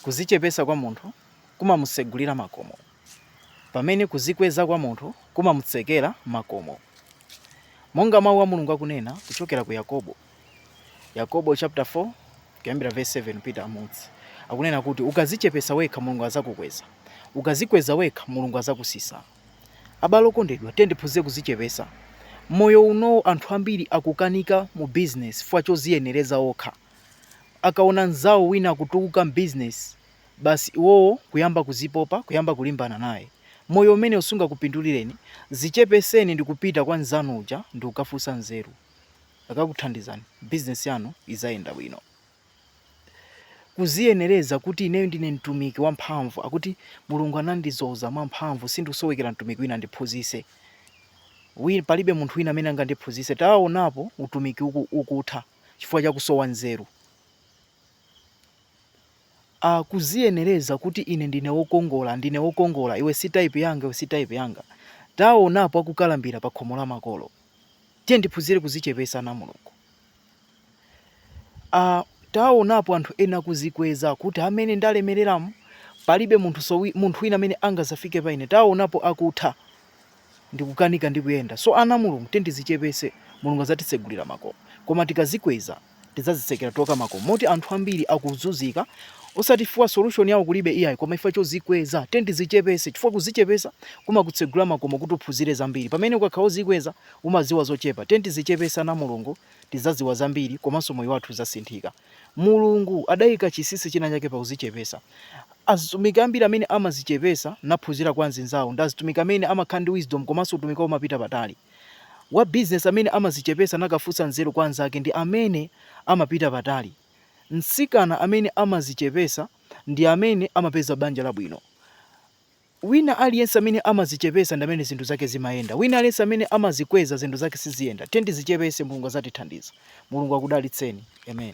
Kuzichepesa kwa munthu kumamusegulira makomo, pamene kuzikweza kwa munthu kumamutsekera makomo. Monga Mau a Mulungu akunena kuchokera ku Yakobo, Yakobo chapter 4 kuyambira verse 7 kupita mmunsi, akunena kuti ukazichepesa wekha Mulungu azakukweza, ukazikweza wekha Mulungu azakusisa. Abale okondedwa, tiyeni tiphunzire kuzichepesa. Moyo uno anthu ambiri akukanika mu business chifukwa choziyenereza okha. akaona nzawo wina akutukuka m'business basi iwowo kuyamba kuzipopa kuyamba kulimbana naye. Moyo umenewo sungakupindulireni, zichepeseni ndikupita kwa nzanu uja ndikukafunsa nzeru akakuthandizani business yanu izayenda bwino. Kuziyenereza kuti ineyo ndine mtumiki wa mphamvu akuti Mulungu anandizoza mwa mphamvu sindikusowekera mtumiki wina andiphunzise. Palibe munthu wina amene angandiphunzise taonapo utumiki ukutha. chifukwa cha kusowa nzeru. A, kuziyenereza kuti ine ndine wokongola, ndine wokongola, iwe si type yanga, iwe si type yanga. Taonapo akukalambira pa khomo la makolo. Tiye tiphunzire kuzichepesa ana a Mulungu. A, taonapo anthu ena kuzikweza kuti mmene ndalemereramu palibe munthu munthu wina amene angazafike pa ine. Taonapo akutha. ndikukanika ndi kuyenda so ana a mulungu tiye tizichepese mulungu azatitsegulira makomo koma tikazikweza tizazitsekera tokha makomo moti anthu ambiri akuzunzika osati chifukwa solution yawo kulibe iyayi koma chifukwa chozikweza tiye tizichepese chifukwa kuzichepesa kumakutsegulira makomo kuti uphunzire zambiri pamene ukakhala ozikweza umaziwa zochepa tiye tizichepese ana a mulungu tizaziwa zambiri komanso moyo wathu uzasinthika Mulungu adaika chisisi china chake pa kuzichepesa. Azitumiki ambiri amene amazichepesa naphunzira kwa anzinzawo ndi azitumiki amene amakhala ndi wisdom komanso utumiki wawo umapita patali. Wa business amene amazichepesa nakafunsa nzeru kwa anzake ndi amene amapita patali. Mtsikana amene amazichepesa ndi amene amapeza banja labwino. Wina aliyense amene amazichepesa ndi amene zinthu zake zimayenda. Wina aliyense amene amazikweza zinthu zake siziyenda. Tiyeni tizichepese Mulungu azatithandiza. Mulungu akudalitseni. Amen.